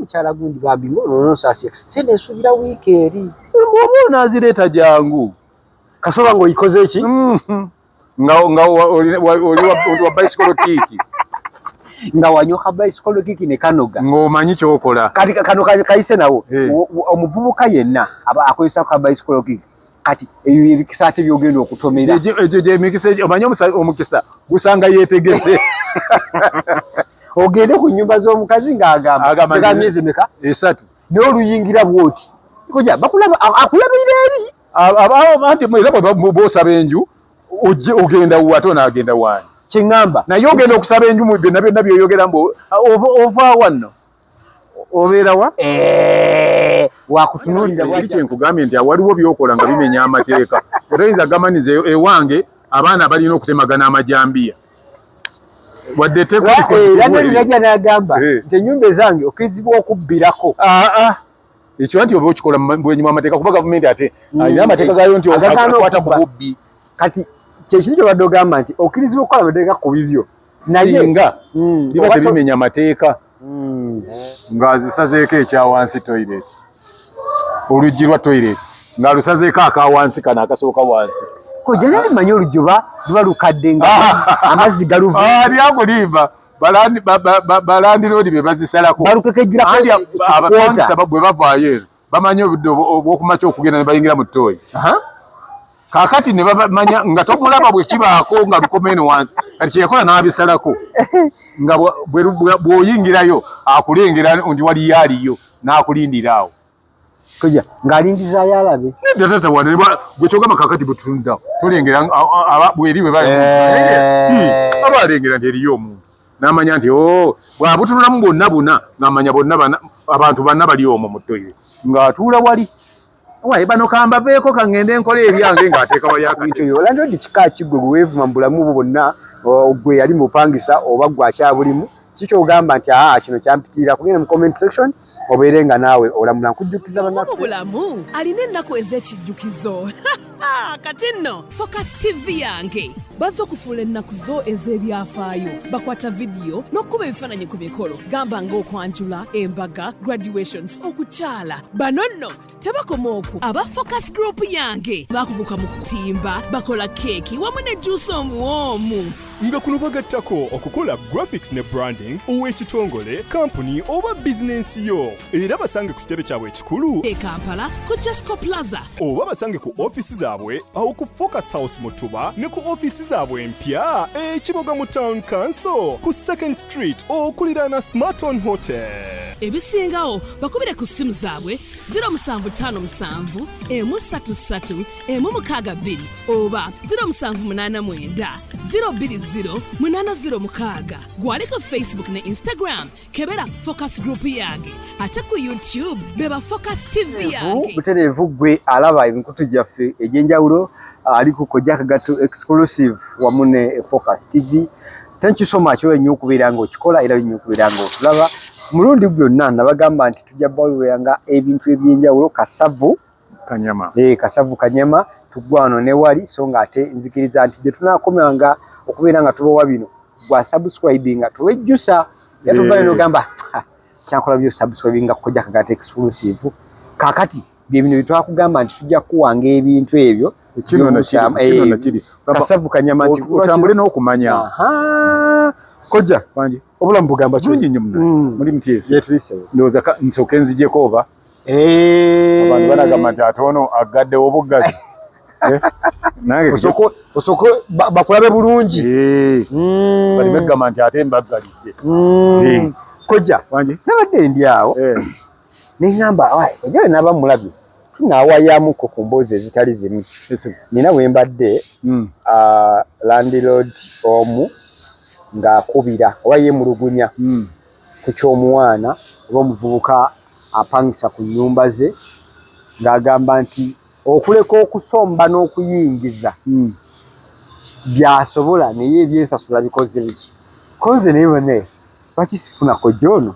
mukyala gundi bambi ngolononsasira sente nsubira wiiki eri oba onazireeta jangu kasoba nga oyikoze ki mm-hmm. nga oli wa bicycle tiiki nga wanyoka bicycle kiki ne kanoga ngomanyi kyokola kati kano kayise nawo eh. omuvubuka yenna akozesa ka bicycle kiki kati eyo emikisa ate byogenda okutomera emikisa omanye omukisa gusanga yetegese ogende ku nyumba z'omukazi ng'agamba myezi meka esatu naye oluyingira bwoti koja bakulaba akulabira eri anti era bwosaba enju ogenda wate onagenda wani kyeŋamba naye ogenda okusaba enju mu byonna byonna byoyogera mbu ovaawanno obeera wa eh, wakutunulira bwaki kyenkugambye nti awaliwo byokola nga bimenya amateeka otoyinza gamaniza e-, ewange abaana balina okutemagana amajambiya wadde tekoiranalinaja eh, nagamba eh. nti enyumba ezange okirizibwa okubbirako ah, ah. ekyo nti oba okikola bwenyuma amateeka kuba gavumenti ate mm. alina amateeka gayo nti akwata ku bubbi kati kyekintu kyobadde ogamba nti okirizibwa okukola amateeka ku bibyo naye nga mm. biba tebimenya mateeka mm. ng'azisazeeko ekya wansi toilet oluggi lwa toilet ng'alusazeeko aka wansi kano akasooka wansi kojja naye manya oluggi oba luba lukadde nga amazzi galuvaaliakulimba balandiroodi be bazisalako balukekejjulakobwe bavaayo eno bamanyi obudde obwokumakya okugenda ne bayingira mu ttooyi kakati ne bamanya nga tomulaba bwe kibaako nga lukomeeno wansi kati kyeyakola n'abisalako nga bw'oyingirayo akulengera nti waliyo aliyo n'akulindira awo koja ng'alindizaayo alabe nedda tata wane gwe kyogamba kakati bwe tutunuddawo tolengera bweri bwe bali eh. aba alengera nti eriyo omuntu namanya nti o oh, bwabutunulamu bwonna buna namanya bonna abantu banna bali omwo mu toyire ng'atuula wali waye bano kambaveeko kangende enkola ebyange ng'ateeka wali akaolandodi kika kiggwe gwe weevuma mu bulamu bwo bonna gwe yali mupangisa oba gwe akyabulimu kikyogamba nti aa kino kyampitiira kugenda mu comment section obeere nga naawe olamula nkujjukiza banamu bulamu alina ennaku ez'ekijjukizo kati nno focus tv yange bazze okufuula ennaku zo ez'ebyafaayo bakwata vidiyo n'okukuba ebifaananyi ku mikolo gamba ng'okwanjula embaga graduations okukyala bano nno tebakoma okwo aba focus group yange bakuguka mu kutimba bakola keeki wamu ne juusi omuwoomu nga kuno bagattako okukola graphics ne branding ow'ekitongole kampuni oba bizinensi yo era basange ku kitebe kyabwe ekikulu e kampala ku jesco plaza oba basange ku ofiisi zaabwe awo ku focus house mutuba ne ku ofiisi zaabwe empya ekiboga mu town council ku second Street okuliraana Smarton Hotel. ebisingawo bakubire ku ssimu zaabwe 0757 133 162 oba 0789 020 806 gwali ku facebook ne instagram kebera focus group yange ate ku youtube beba focus tv yange butereevu gwe alaba emikutu gyaffe egy'enjawulo ali ku kojja kagatto exclusive wamu ne focus tv thank you so much wewe nyo kubira ngo kikola era nyo kubira ngo tulaba mulundi byonna nabagamba nti tujja bawulira nga ebintu ebyenjawulo kasavu kanyama eh kasavu kanyama tugwano ne wali so nga ate nzikiriza nti je tunakomya nga okubira nga tubowa bino gwa subscribing nga tuwejjusa yatuvale eh. no gamba kyankola byo subscribing nga kujja kagate exclusive kakati bye bino byetwakugamba nti tujja kuwanga ebintu ebyo kasavu kanyama nti otambule n'okumanya koja obulamu bugamba kirungi nnyo muna mm. muli mutyesi ndowooza nsooke nzijeko oba eh. abantu balagamba nti ate ono aggaddewo obuggazi eh? osoko bakulabe bulungi eh. mm. bali begamba nti ate mbaggalidde mm. koja nabadde ndi awo ne ngamba awaye ejole naba mulabi tunawayamuko ku mboozi ezitali zimu nina we mbadde mm. uh, landlord omu ng'akubira oba yemulugunya mm. ku ky'omwana oba omuvubuka apangisa ku nyumba ze ng'agamba nti okuleka okusomba n'okuyingiza mm. byasobola naye ebyensasula bikoze biki konze naye bane bakisifunako jono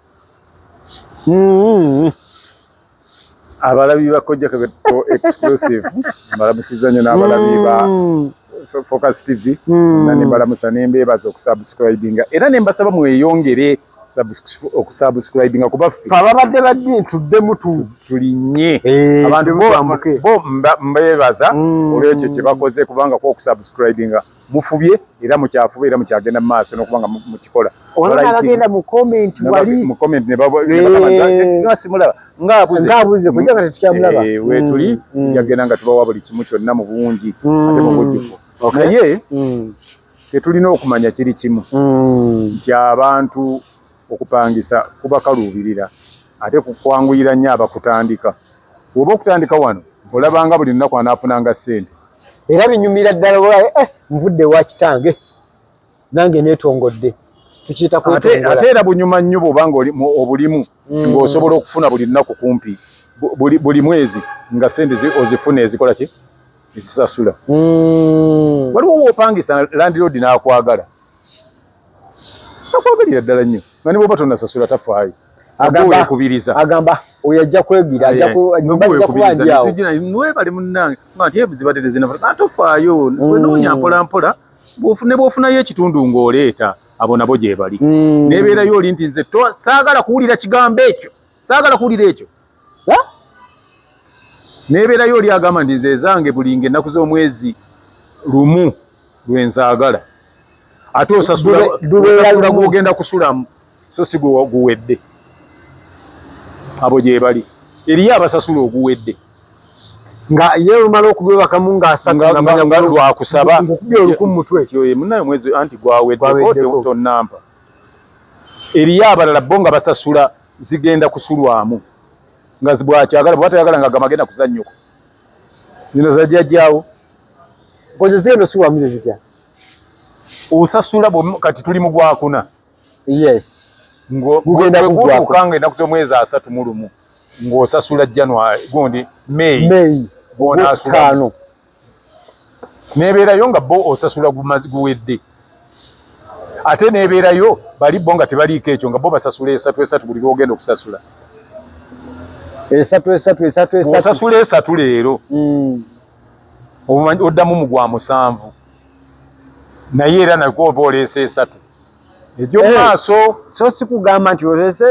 Mm-hmm. abalabi bakojja kebeto exclusive mbalamusiza nyo n'abalabi ba mm. focus tv mm. na nembalamusa nembeebaza okusubscribinga era nembasaba mweyongere okusubscribinga kuba ffe ababadde baddi tuddemu tulinye eh, abantu bo mbeebaza mm. olwekyo kyebakoze kubanga ku okusubscribinga mufubye era mukyafuba era mukyagenda mumaaso nokuba nga mukikola olabagenda mucomment wali mucomment nebasimulaba ngaabuze kuja nga tetukyamulaba eh, wetuli mm, mm. jagenda nga tubawa buli kimu kyonna mu bungi mm. ate mubujjuvu naye tetulina okumanya kiri kimu nti abantu okupangisa kubakaluubirira ate kukwanguyira nnyo abakutandika woba okutandika wano olabanga buli lunaku anaafunanga ssente era binyumira ddala oba eh, nvudde ewa kitange nange neetongodde tukiyita kwetongola ate era bunyuma nnyo bwoba nga obulimu mm. ng'osobola okufuna buli lunaku kumpi buli mwezi nga ssente ozifuna ezikola ki ezisasula mm. waliwo woopangisa landiroodi n'akwagala akwagalira ddala nnyo nga ne bwoba tonasasula tafaayo agambakubiriza agamba oyo ajja kwegira ajjakubanjawewebale munange ate zibadde tezinafaa tofaayo mm. wenoonya mpolampola ne bwofunayo ekitundu ng'oleeta abo nabo gyebali mm. nebeerayo oli nti nze saagala kuwulira kigambo ekyo saagala kuwulira ekyo nebeerayo oli agamba nti nze ezange bulinga ennaku z'omwezi lumu lwenzaagala ate osasula gwogenda kusulamu so si guwedde abo gyebali eriyo abasasula oguwedde nga ye omala okubwebakamu ngaasatlwakusaba munaye mwezi anti gwaweddeko tonampa eriyo abalala bo nga basasula zigenda kusulwamu nga zibwakyagala bwaba tayagala nga gamagenda kuzannyuko zino zajjajjaawo koze zigenda osulwamu zezitya osasula kati tuli mu gwakuna yes ngogenda kugutuka nga enaku z'omwezi asatu mu lumu ng'osasula january gundi may may gwonasulamu nebeerayo nga bo osasula guwedde ate nebeerayo bali bo nga tebaliiko ekyo nga bo basasula esatu esatu buli lwogenda okusasula esatu esatu esatu esatu osasula esatu leero mm. oddamu mu gwa musanvu naye era nakwo oba oleesa esatu egyo eh, maaso so sikugamba nti olese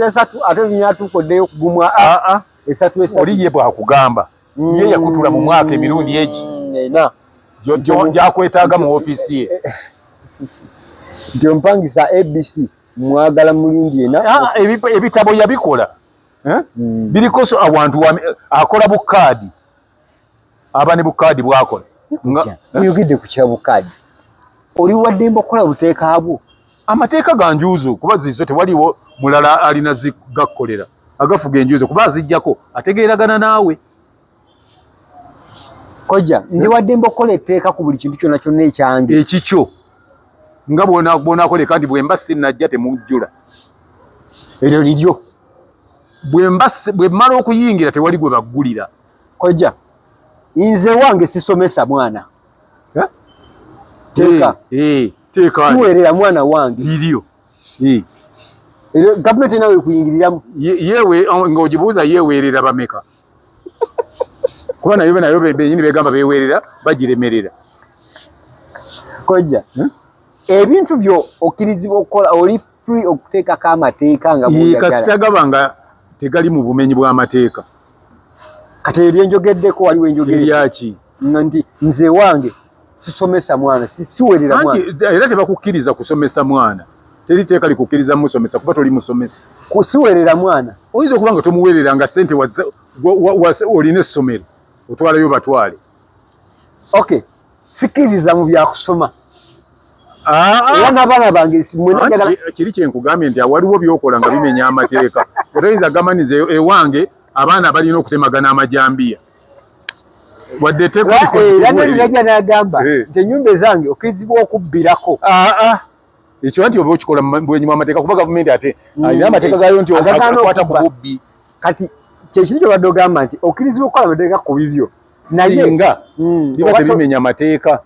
esatu ate nyatuuka oddeyo okugumwa aa ah, ah. esatu esatu oli ye bwakugamba ye yakutula mu mwaka emirundi egi mm, gyakwetaaga mu ofiisi ye nti ompangisa abc mwagala mulundi ena ah, ebitabo yabikola eh? mm. biriko awantu akola bukaadi aba ne bukaadi bwakola oyogedde ku kya bukaadi oli waddemba okukola buteeka bwo amateeka ga njuuzo kuba zizo tewaliwo mulala alina zigakkolera agafuga enjuuzo kuba azijjako ategeeragana naawe kojja ndi eh? wadde mba okukola etteeka ku buli kintu kyonna kyonna ekyange ekikyo nga bwonakola kandi bwemba sinajja temujjula eryo liryo bwemmala okuyingira tewali gwe baggulira kojja nze wange sisomesa mwana teeka teeka siwerera mwana wange lilio eh gavumenti nawe kuyingiriramu yewe oh, ng'ogibuuza yeweerera bameka kuba nayo be nayo benyini begamba beweerera bagiremerera kojja hmm? ebintu byo okkirizibwa okukola oli free okuteekako amateeka nga kasita gaba nga tegali mu bumenyi bw'amateeka kati ebyenjogeddeko waliwo enjogera yaki nti nze wange sisomesa mwana sisiwerera mwana anti era tebakukkiriza kusomesa mwana teri teeka likukkiriza musomesa kuba toli musomesa kusiwerera mwana oyinza okuba nga tomuwerera nga sente olina essomero otwalayo batwale okay sikiriza mu byakusoma ah, ah. wana bana bange kiri kyenkugambye nti awaliwo byokola nga bimenya amateeka otayinza gamaniza ewange abaana balina okutemagana amajambiya wadde tekulikolanalirajja n'agamba eh. nti ennyumba ezange okirizibwa okubbirako ah, ah. ekyo nti oba okikola bwenyuma amateeka kuba gavumenti ate mm. alina amateeka gayo nti akwata ku bubbi kati kyekintu kyobadde ogamba nti okirizibwa okukola amateeka ku bibyo naye nga mm. biba tebimenya amateeka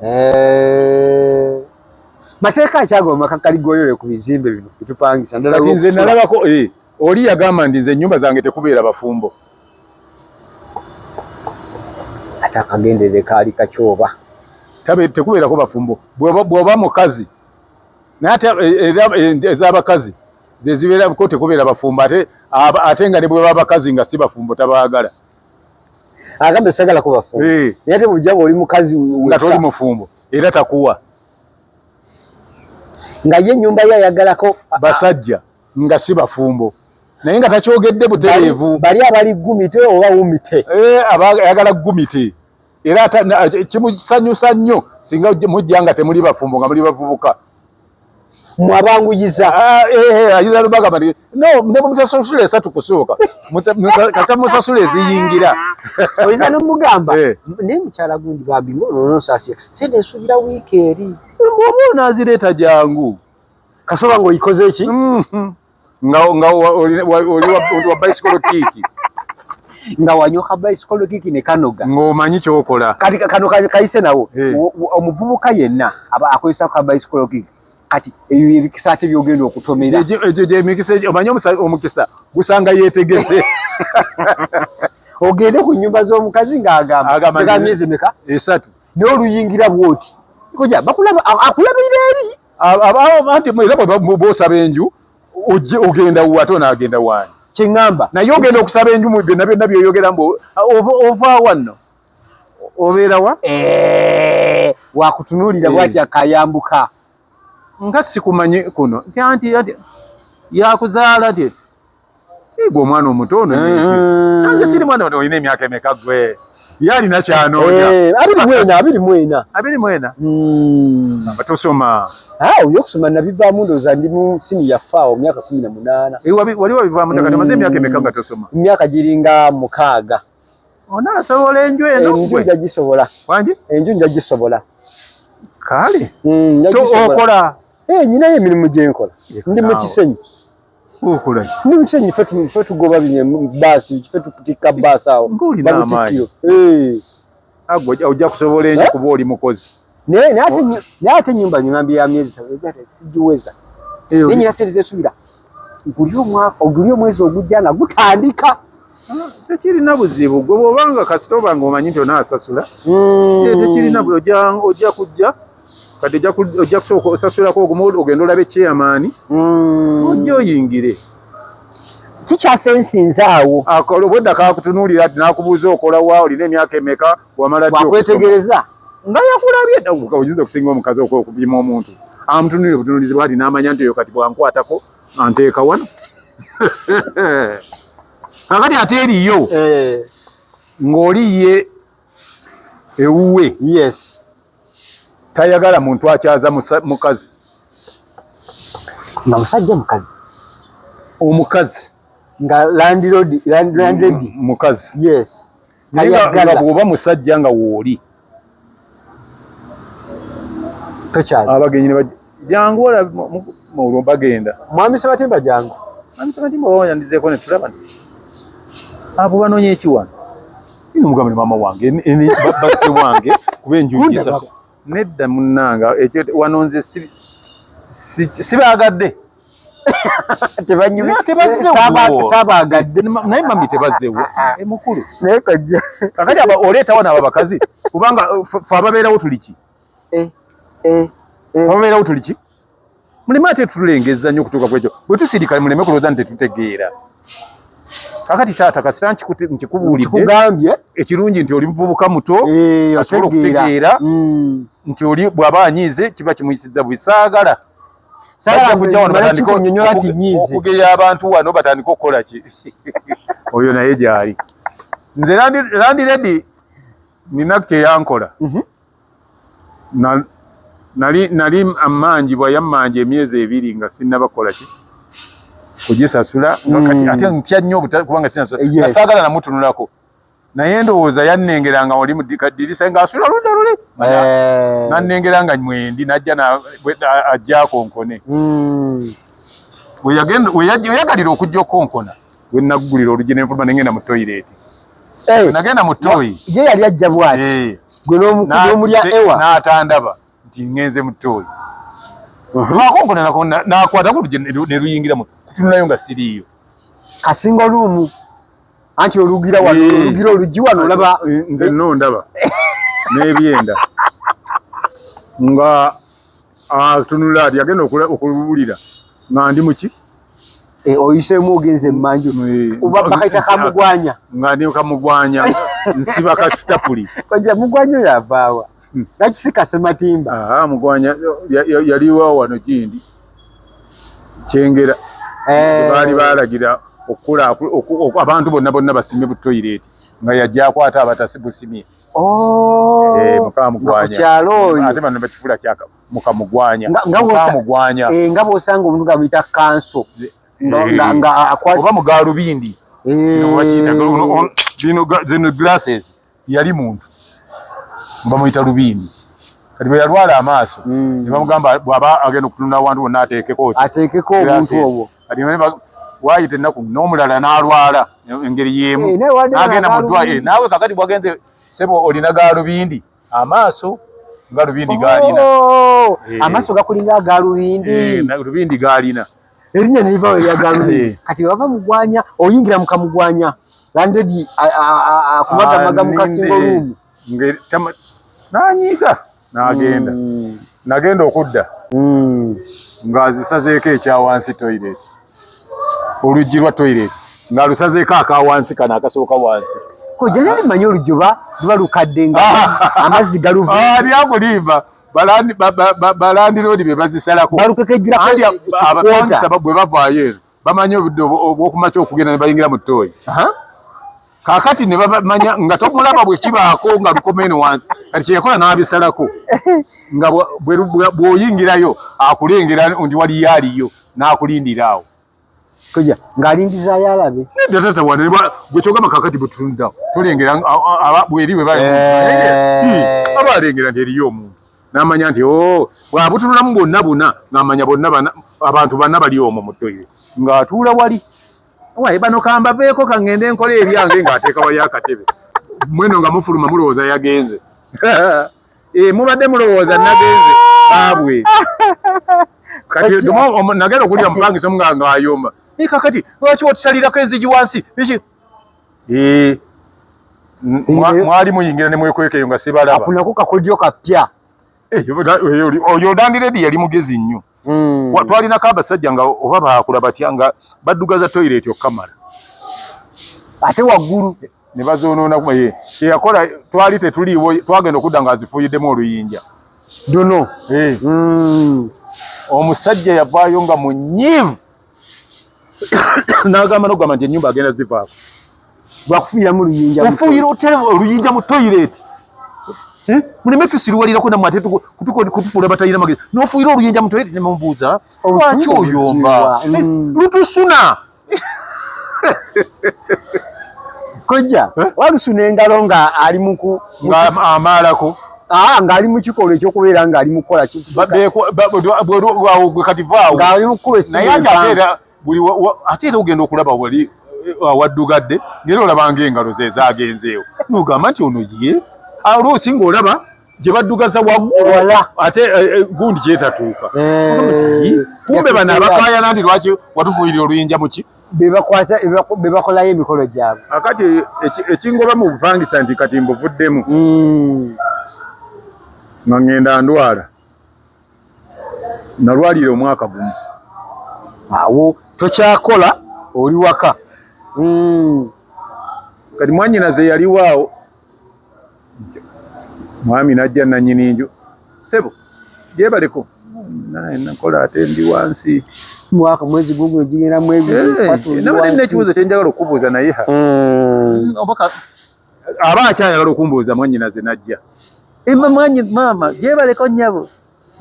eh. mateeka akyagoma maka kaligolere ku bizimbe bino bitupangisa ndala nze nalabako eh, oli yagamba ndi nze ennyumba zange tekubeera bafumbo ate akagenderere kaali kakyoba tekubeerako bafumbo bwoba mukazi naye ate eh, eh, eh, ezabakazi zezibeerako tekubeera bafumbo ate ate nga ne bweba bakazi nga si bafumbo tabaagala agambe sagala ko bafumbo naye ate bujjanga oli mukazi nga toli mufumbo era takuwa nga ye ennyumba ye ayagalako basajja nga si bafumbo naye nga takyogedde butereevu bali abali gumite oba wumite eh, ayagala gumite era kimusanyusa nnyo singa mujja nga temuli bafumbo nga muli bavubuka mwabanguyiza ah, eh, eh, ayiza lubagamba no ne mutasasula esatu kusooka kasa musasula eziyingira oyinza nomugamba naye mukyala gundi bambi ngolononsasira sente esuubira wiiki eri oba onazireeta jangu kasoba ngo ikoze ki mm -hmm. nga nga oli wa bicycle kiki nga wanyoka bicycle kiki ne kanoga ngo manyi kyokola kati kano kaise nawo hey. Eh. omuvubuka yenna aba akozesa ka bicycle kiki kati eyo ebikisa ate byogenda okutomera ejo je mikisa omanyi omukisa gusanga yetegese ogende ku nyumba z'omukazi nga agamba agamba miezi meka esatu eh, naye oluyingira bwoti koja bakulaba akulabira eri abaanti era bwosaba enju ogenda wa ate onaagenda waani kyeŋŋamba naye ogenda okusaba enju mu byonna byonna byoyogera mbu ova wanno obeera wa eh, wakutunuulira eh. bwati akayambuka nga sikumanyi kuno nti anti yakuzaala tye Igwe omwana omuto ono mm-hmm. nyingi. Anze siri mwana ono ine miaka emeka gwe. Yali na chano oja. Eh, abiri mwena, abiri mwena. Abiri mwena. Mm. Bato soma. Ah, uyo kusoma na biva mundo za ndimu sini ya fao miaka kumi na munana. Iwa wabi, wali wabi biva mundo mm. katamaze miaka emeka bato soma. Miaka jiringa mukaga. Ona sawola enjwe eno kwe. Enjwe nja jisobola. Wanji? Enjwe nja jisobola. Kali? Mm, nja jisobola. To okora. Eh, nyina ye minimu jenkola. Ndi mchisenyi. Okola ki? Ni mchenyi fetu fetu goba binye basi fetu kutika basi awo. Nguli na amayi. Eh. Agwa oja kusobola enyo eh? kuba oli mukozi. Ne ne ate ne ate nyumba nyambi ya miezi sawe gata sijiweza. Eyo. Ninyi nasirize subira. Ngulio mwaka ogulio mwezi ogujja nga gutandika. tekirina buzibu gwe bwobanga kasita obanga omanyi nti onaasasula hmm. tekirina ojja kujja kati ojja kusooka osasulako ogumu ogenda olabe chairman mm. ojja oyingire kikyasensinza awo obwedda kakutunuulira ti nakubuuza okolawa olina emyaka emeka wamala wakwetegereza nga yakulabye oyinza okusinga omukazi okupima omuntu amutunulire butunulizi bwati namanya nti oyo kati bwankwatako anteeka wano kakati ate eriyo eh. ng'oli ye ewuwe yes tayagala muntu akyaza mukazi nga musajja mukazi omukazi nga landlord landlord mukazi yes tayagala bwoba musajja nga wooli tokyaza abagenyi Jangu wala mulu bagenda. Mwami Sebatimba jangu. Mwami Sebatimba wanya ndizeko ne tulaba. Abo banonye ekiwa. Ino mugambe mama wange eni babase wange kube njuji sasa. Nedda munanga ekyo wanonze si sibagadde. Tebanyumya tebazze saba saba gadde naye mami tebazze wo. E mukulu. Naye kajja. Kakati aba oleta wana abakazi kubanga uh, fa babeera wo tuliki. eh, eh, eh. obeerawo tuli ki muleme ate tulengeza nnyo okutuuka kwekyo bwe tusirikale muleme kulowooza nti tetutegeera kakati taata kasita nkikubuuliddekugambye ekirungi nti oli muvubuka muto eh, asobola okutegeera hmm. nti oli bw'aba anyiize kiba kimuyisizza bwe saagala okugeya abantu wano batandika okukola ki oyo naye gyali nze landiredi nina kyeyankola mhm. nali nali amanjibwa yamanja emyezi ebiri nga sinnaba kukola ki kugisasula nga mm. kati ate ntya nnyo kubanga sinasula eh, yes. saagala namutunulako naye ndowooza yannengera nga oli mudikaddirisa nga asula luda luli eh. nannengera nga mwendi najja ajja akonkone mm. weyagalira okujja okonkona we naggulira oluggi nenfuluma nengenda mu toyireeti eh. nagenda mu toyi ye yali ajja bwati eh. gwe n'omulya ewa n'atandaba nti ngenze mu toyi uh-huh. lwakonkonanako nakwata ku luggi ne luyingira mu kutunulayo nga siriiyo kasinga oluumu anti olugira wano eh. olugira oluggi wano olaba nze no ndaba n'ebyenda nga atunula ah, ati agenda okuwulira nga ndi muki eh, oyisemu ogenze emanju eh, oba bakaita kamugwanya nga ndi kamugwanya nsiba kasitapuli koja mugwanya oyo avaawa hmm. nakisika sematimba ah, mugwanya yaliwa wano gindi kyengera eh. baali balagira okukula abantu bonna bonna basime butoyireti nga yajja akwata abatasibusimye Oh, eh, mukamugwanyakukyalo oyo ate bano bakifula kyaka mukamugwanya mukamugwanya eh, nga bwosanga omuntu gamuyita kanso nga eh. akwati oba mugalubindi zino glasses yali muntu bamuyita lubindi kati bwe yalwala amaaso hmm. ne bamugamba bw'aba agenda okutunula awantu wonna ateekeko ateekeko obuntu obwo waayita ennaku n'omulala n'alwala engeri y'emu eh, n'agenda mu ddwaliro eh, naawe kakati bwagenze sebo olina gaalubindi amaaso galubindi gaalina oh, eh. amaaso gakulinga agaalubindi lubindi gaalina erinnya ne livawo erya gaalubindi kati bava mugwanya oyingira mu kamugwanya landedi akubagamaga mu kasingo luumu nanyiiga n'agenda mm. nagenda okudda mm. ng'azisazeeko ekya wansi toilet oluggi lwa toilet ng'alusazeeko aka wansi kano akasooka wansi kojanani manyi oluggi oba luba lukadde nga amazzi galuvaaliakulimba ah, balandiroodi be bazisalako balukekejjulakobwe bavaayo eno bamanyi obudde obwokumakya okugenda ne bayingira mu tooyi kakati ne bamanya nga tomulaba bwe kibaako nga lukomeeno wansi kati kyeyakola n'abisalako nga bw'oyingirayo akulengera nti waliyo aliyo n'akulindira awo koja ng'alindizaayo alabe nedda tata wane gwe kyogamba kakati bwe tutunuddawo tolengera bweri bwe baba eh. alengera nti eriyo omuntu namanya nti oh, bwabutunulamu bwonna buna ngamanya bonna abantu bana bali omwo mu toire ng'atuula wali waye bano kambaveeko kaŋŋende enkola ebyange ng'ateeka wali akatebe mweno nga mufuluma mulowooza yagenze eh, mubadde mulowooza nagenze baabwe kati nagenda okulira mupangisa omu nga ng'ayomba naye kakati lwaki otusalirako enzigi wansi Eh, mwali muyingira ne mwekweka eyo nga sibalaba. Akunako kakodyo kapya. Eh, oyo Dandi Lady yali mugezi nnyo. Mm. Twalina ka basajja nga oba baakula batya nga baddugaza toilet okamala. Ate waggulu ne bazoonoona kuma ye kyeyakola twali tetuliiwo twagenda okudda nga azifuuyiddemu oluyinja dono eh. mm. omusajja yavaayo nga munyiivu n'agamba n'okugamba nti ennyumba agenda zivaako lwakufuuyiramu oluyinja ofuuyira otya oluyinja mu toyireeti eh? muleme tusiruwalirako namwe ate kutufuula batalina magezi n'ofuuyira oluyinja mu toyireeti ne mumubuuza lwaki oyomba eh, mm. lutusuna kojja eh? walusuna engalo nga ali muku amaalako Ah, ngali mu kikolwa ekyokubeera ngali mu kukola kati vaawo ngali mu kukuba essimu naye ate ateera buli ate era ogenda okulaba wali eh, awaddugadde ngera olabanga engalo ze zaagenzeewo nogamba nti ono ye oluusi ng'olaba gye baddugaza waggulu ate eh, eh, gundi gyetatuuka kumbe bano abakaayana ndi lwaki watufuuyira oluyinja muki bebakwasa bebakolayo emikolo gyabwe akati ekingoba mu bupangisa nti kati mbuvuddemu hmm. nga ngenda ndwala nalwalira omwaka gumu awo tokyakola oli waka hmm. kati mwanyinaze yaliwaawo mwami najja nanyini nju sebo gyebaleko naye nakola ate ndi wansi mwaka mwezi gugu ejigera mwezi eh, satu ndi wansi nabadde nekibuzo kyenjagala okubuuza naye ha mm. obaka aba akyayagala okumbuuza mwanyinaze najja emba mwanyi maama gyebaleko nyabo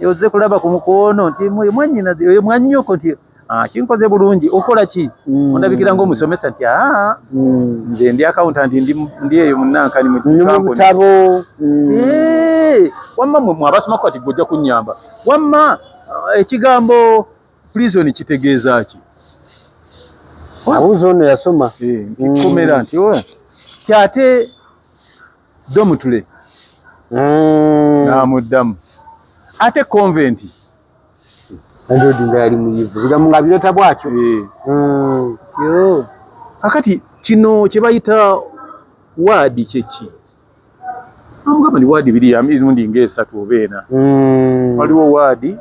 yoze kulaba ku mukono nti mwe mwanyina oyo mwanyoko nti ah kinkoze bulungi okola ki mm. ondabikira ngo musomesa nti ah mm. nze ndi accountant ndi ndi eyo munanka ni mu tabo mm. eh wamma mwe mwabasoma kwati gojja kunyamba wamma eh, ekigambo prison kitegeeza ki abuzo ono yasoma eh, nti komera nti oyo oh, kyate ddo mutule mm. namuddamu ate konventi andodi nga yali muyivu bigamu nga bireta bwatyo eh. mm. akati kino kyebayita waadi kyeki amugamba ni waadi biri emirundi nga esatu oba ena mm. waliwo waadi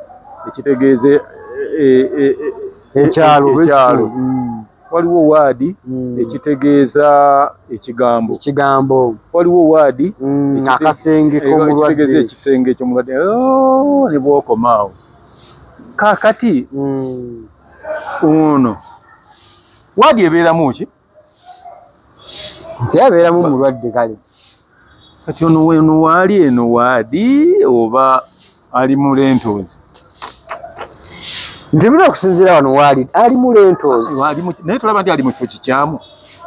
ekitegeeza eh, eh, ekyalo ekyalo waliwo waadi mm. ekitegeeza ekigambo ekigambo waliwo waadi mm, akasenge komulwadde ekisenge kyomulwadde oh, ne bwokomaawo kakati mm. ono waadi ebeeramu ki nti abeeramu mulwadde kale kati ono weno waali eno waadi oba ali mu lentoozi nze bino okusinziira wano waali ali mu lentoozi naye tulaba nti ali mu kifo kikyamu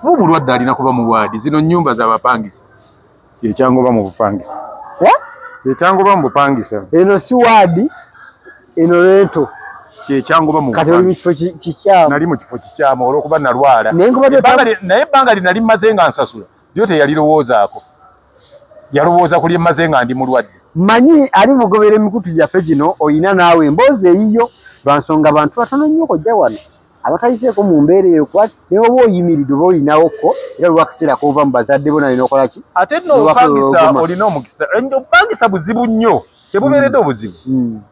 mu bulwadde alina kuba mu waadi zino nnyumba z'abapangisa kyekyangoba mu bupangisa kyekyangoba mu bupangisa eno si waadi eno lento kyekyangoba mu kati oli mu kifo kikyamu nali mu kifo kikyamu olw'okuba nalwala naye ebbanga lye nali mmaze nga nsasula lyo teyalirowoozaako yalowooza ku lyemmaze nga ndi mulwadde manyi ali mugobera emikutu gyaffe gino olina naawe emboozi eyiyo lwa nsonga bantu batono nnyo kojja wano abatayiseeko mu mbeera eyo kuba ne oba oyimiridde oba olinawokko era lwakiseera kova mu bazadde bona olina okola ki ate nopangisa olina omukisa obupangisa buzibu nnyo tebubeeredde mm. obuzibu mm.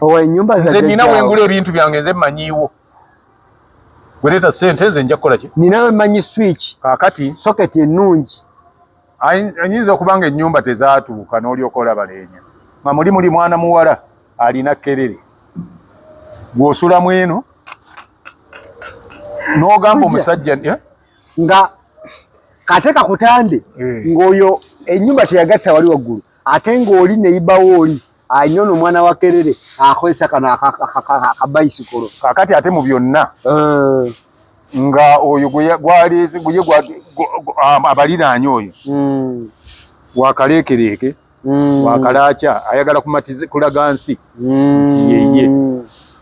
owa enyumba za nze nina wengula ebintu byange nze manyiwo wereta sente nze nja kukola ki nina we manyi switch kakati socket enungi anyinza okubanga enyumba tezatuuka nolyokola balenya nga muli muli mwana muwala alina kerere gwosula mweno nogamba omusajja eh? nga kate kakutande eh. ngoyo enyumba teyagatta wali waggulu ate ng'oli neibawo oli alina ono omwana wa kerere akozesa kano akabayisikolo kakati ate mu byonna eh. nga oyo gwaleeze guye abaliraanya oyo hmm. wakaleekereeke hmm. wakalaakya ayagala kumatiza kulaga nsi hmm. nti yeye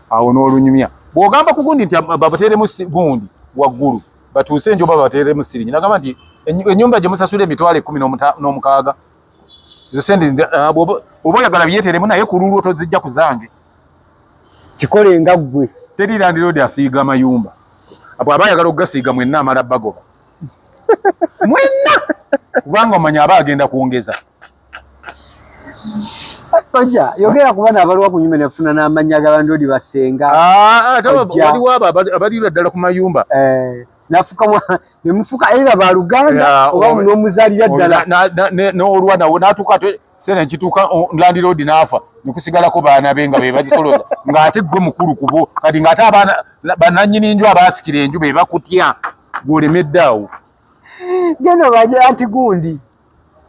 awo n'olunyumya bw'ogamba ku gundi nti babateeremu gundi waggulu batuuse enjoba babateeremu sirinyi nagamba nti ennyumba gye musasula emitwalo ekkumi n'omukaaga ezo sente uh, oba oyagala byeteremu naye ku lulwo tozijja ku zange kikole nga ggwe teri landiroodi asiiga amayumba abo aba ayagala okugasiiga mwenna amala bagoba mwenna kubanga omanya aba agenda kwongeza Oja, yogera kuba na balwa kunyume ne funa na manya ga bandodi basenga. Ah, ah, tawa wali waba abali ula dala kumayumba. Eh. nafuka ne mufuka either ba luganda oba no muzalira dala no olwa na natuka sene kituka landlord nafa nikusigala ko bana benga be bazikoloza ngate gwe mukuru kubo kati ngate abana bananyini njo abasikire njo be bakutya gole medawo geno baje anti gundi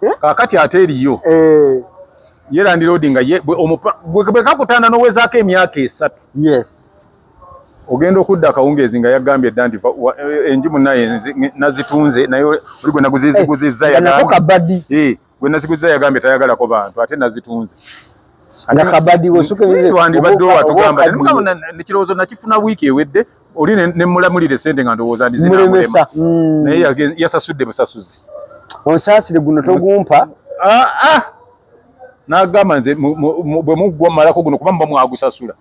Eh? kakati ate eriyo eh. ye landiroodi nga bwekakutanda nowezaako emyaka esatu yes ogenda okudda akawungeezi nga yagambye dda nti eh, enju munaye nazitunze naye oli gwe naguziziguzizza yagambye gwe naziguzizza yagambye tayagalako bantu ate nazitunze nakabadi wesukewandibadde owatugamba nekirowoozo nakifuna wiiki ewedde oli ne mulamulire sente nga ndowooza ndi zina mulemesa mm. naye yasasudde busasuzi onsaasire guno togumpa ah, ah. nagamba nze bwe muggwa mumalako guno kuba muba mwagusasula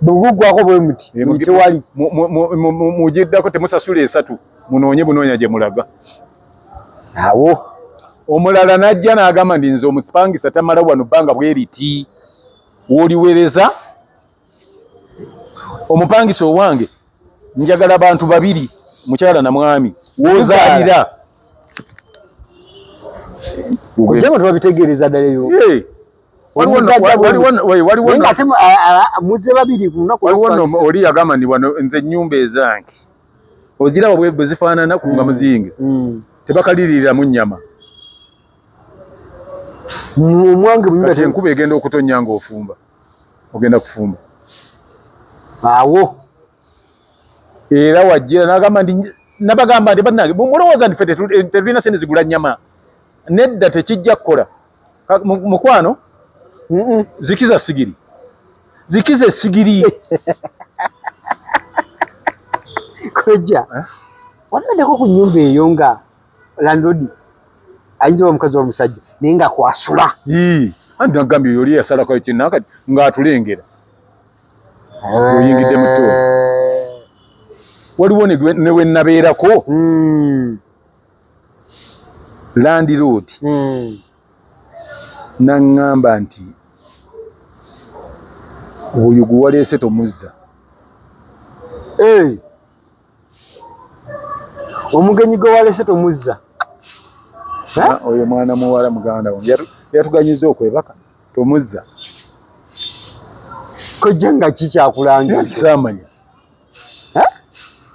bwegugwako bwe muti tewali mugiddako temusasula esatu munoonye bunoonya gye mulaga awo omulala najja n'agamba ndi nze omusipangisa tamala wano bbanga bweriti woliwereza omupangisa owange njagala bantu babiri mukyala na mwami wozalira ojjama tubabitegeereza ddala ebyo muze babiri oli yagamba ndi wano nze ennyumba ezange oziraba bwe zifaanana ku nga mm. muzinge mm. tebakaliriiramu nnyama omwange enkuba egenda okutonnya ng'ofumba ogenda kufumba awo era wajira nagamba nti nabagamba nti banange mulowooza nti fe tetulina sente zigula nyama nedda tekijja kukola mukwano zikiza sigiri zikiza esigiri koja eh? wanadeko ku nyumba eyo nga landlord ayinza oba omukazi omusajja naye nga kwasula anti nagambye yoli yasalako ekinaka ngaatulengera eh. oyingidde muto waliwo newenabeerako hmm. landlord hmm. naŋŋamba nti oyo gwe waleese tomuzza eh. omugenyi gwe walese tomuzza oyo mwana muwala muganda wange yatuganyiza okwebaka tomuzza kojja nga kikyakulangisamanya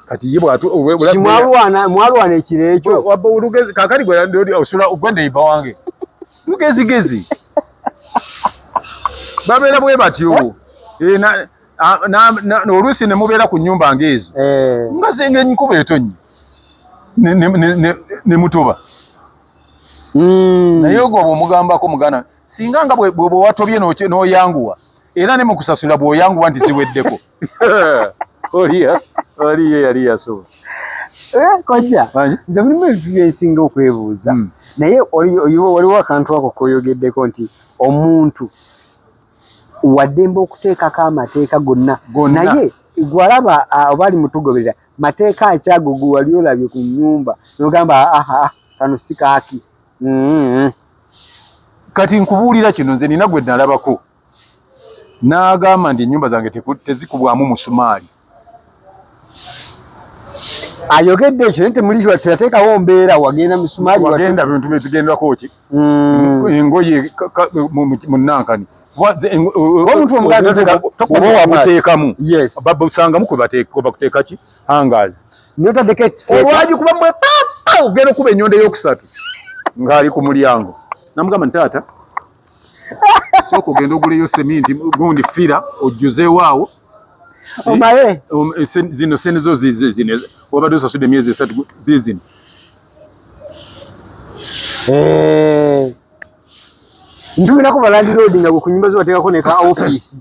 kati ye bwatu mwalwana mwalwana ekiro ekyo wabba olugezi kakali gwe ndi osula ogwa neiba wange lugezigezi babeera bwe batyo eh, ah, oluusi ne mubeera ku nnyumba ng'ezo eh. nga zenga enkuba etonnye ne mutoba hmm. naye ogwo bwomugambako mugana singa nga bweba watobye n'oyanguwa era ne mukusasula bw'oyanguwa nti ziweddeko oliya oliya yali yasoba Eh, kojja nze mulimu ebintu byensinga okwebuuza hmm. naye waliwo akantu ako koyogeddeko nti omuntu waddembe okuteekako amateeka gonna naye gwalaba oba ali mutugoberera mateeka akyago gwe wali olabye ku nyumba nogamba aha kano si kaaki mm-hmm. kati nkubuulira kino nze nina gwe nalabako n'agamba nti ennyumba zange tezikubwamu musumaali ayogedde ekyo naye temuliwa teyateekawo mbeera wagenda misumaali wagenda bintu byetugendako ki hmm. engoye munankani omuntu omugaobawamuteekamu babusangamu kwebakuteeka ki hangas notadeko olwagi kuba mwe papa ogenda okuba enyondo eyokusatu ngaali ku mulyango namugamba nti taata sooka ogenda oguleyo seminti gundi fira ojjuzeewo awo omaye eh, um, eh, zino sente zo zize zino wabadde osasude emyezi esatu zizino eh. ntumirako balandiroodi nga bwekunyumba zibateekako neka ofiisi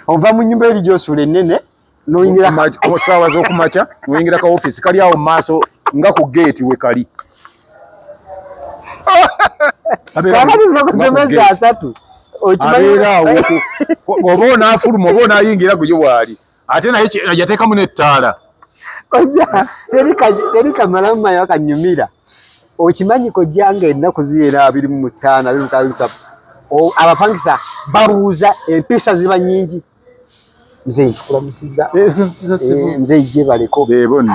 ova mu nyumba eri gyosula enene noyingira ku ssaawa z'okumakya noyingira ka ofiisi kali awo mu maaso nga ku geeti we kali oba onaafuluma oba onaayingira guyo waali ate naye yateekamu n'ettaala teri kamalamu mayo akanyumira okimanyi kojja nga ennaku ziyera abiri mu mutaano abiri mukaaga abapangisa babuuza empiisa ziba nyingi mzee ntukula musiza eh, eh, mzee ije baleko bebonne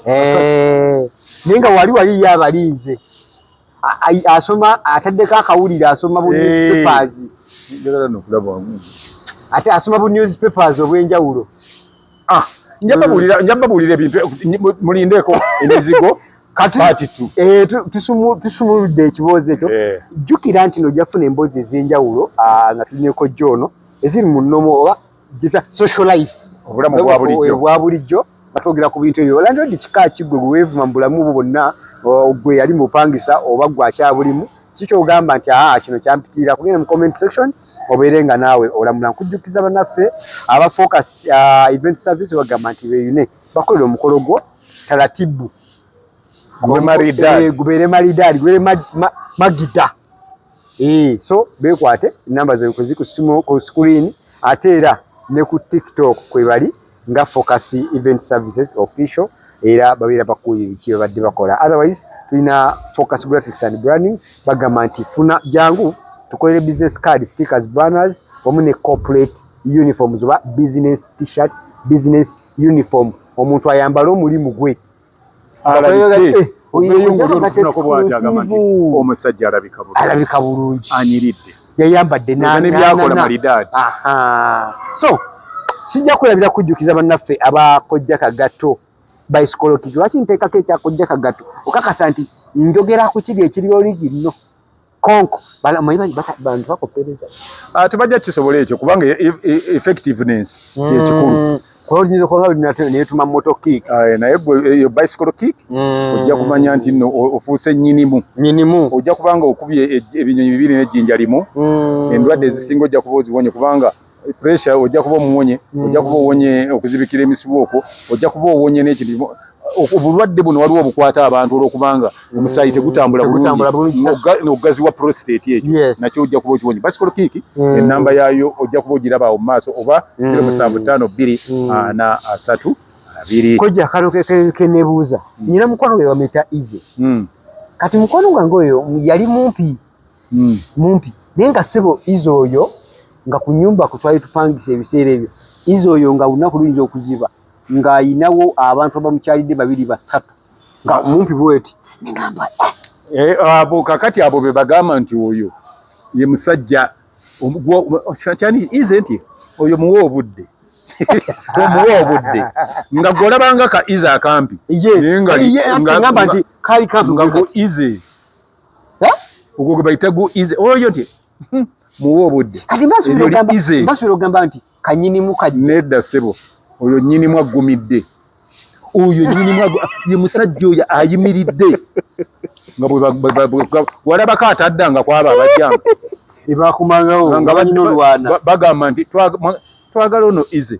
eh ninga wali wali ya balinze asoma ataddeko akawulira asoma bu newspapers eh, njagala nokulaba wamu ate asoma bu newspapers obwenjawulo ah njababulira njababulira ebintu mulindeko emizigo kati eh, tusumuludde ekiboozi ekyo eh. jjukira nti no jafuna emboozi ez'enjawulo ah, nga tulineko joono eziri mu nnomo oba gita social life obulamu bwa bulijjo batwogera ku bintu ebyo landlord kika ki gwe gwe weevuma mu bulamu bwo bwonna gwe yali mupangisa oba gwe akyabulimu kikyogamba nti aa kino kyampitiira kugenda mu comment section obeere nga naawe olamula nkujjukiza banaffe aba focus uh, event service bagamba nti beyune bakolera omukolo gwo talatibu eh, gubeere maridaadi gubeere magida eh, so bekwate enamba zekwezi ku simu ku screen ate era ne ku tiktok kwebali nga focus event services official era babeera bakuulira ki babadde bakola otherwise tulina focus graphics and branding bagamba nti funa jangu tukolere business card stickers banners wamu ne corporate uniforms oba business t-shirts business uniform omuntu ayambale omulimu gwe omusajja alabika bulungi anyiridde yayambadde nebyakola malidaadi so sijja kwelabira kujjukiza bannaffe abakojja kagatto baisikolokiki lwaki nteekako ekyakojja kagatto okakasa nti njogera ku kiri ekiriwo ligi nno konko omanyi bantu bakoppereza ah, tebajja kisobola ekyo kubanga e, e, e, effectiveness kyekikulu mm. koyinza okuba nga netuma moto kick ah, naye eyo bicycle kick mm. ojja kumanya nti no ofuuse nyinimu nyinimu ojja kubanga okubye ebinyonyi bibiri nejjinja limu mm. endwadde ezisinga ojja kuba oziwonye kubanga pressure ojja kuba omuwonye mm. ojja kuba owonye okuzibikira emisibu okwo ojja kuba owonye n'ekintu obulwadde buno waliwo obukwata abantu olwokubanga mm. omusaayi tegutambula bulungi okugaziwa prostate ekyo nakyo ojja kuba okiwonye basikolo kiiki mm. enamba yaayo ojja kuba ogiraba awo mu maaso oba zero musanvu ttaano bbiri ana asatu abiri kojja kano kenebuuza nyina mukwano gwe bamuyita ize kati mukwano gwange oyo yali mumpi mm. mumpi naye nga sebo izo oyo nga ku nyumba ku twali tupangisa ebiseera ebyo izo oyo nga olunaku luyinza okuziba ng'ayinawo abantu abamukyalidde babiri basatu nga mumpi bweti nengamba eh, abo kakati abo be bagamba nti oyo ye musajja kyani ize nti oyo muwa obudde omuwa obudde nga gwolabanga ka ize akampi naye nga nti kali kampi nga ize ogwo gwe bayita gu ize oyo ti hmm. muwa obudde kati basubira ogamba nti kanyinimu ka nedda sebo oyo nyinimu aggumidde oyo nyinimu ye musajja oyo ayimiridde walabako ataddanga kwaba abajjanga ebakumangawo nga banyina olwana bagamba nti twagala ono ize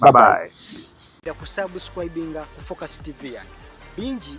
bye bye. Kusubscribinga ku Focus TV yange bingi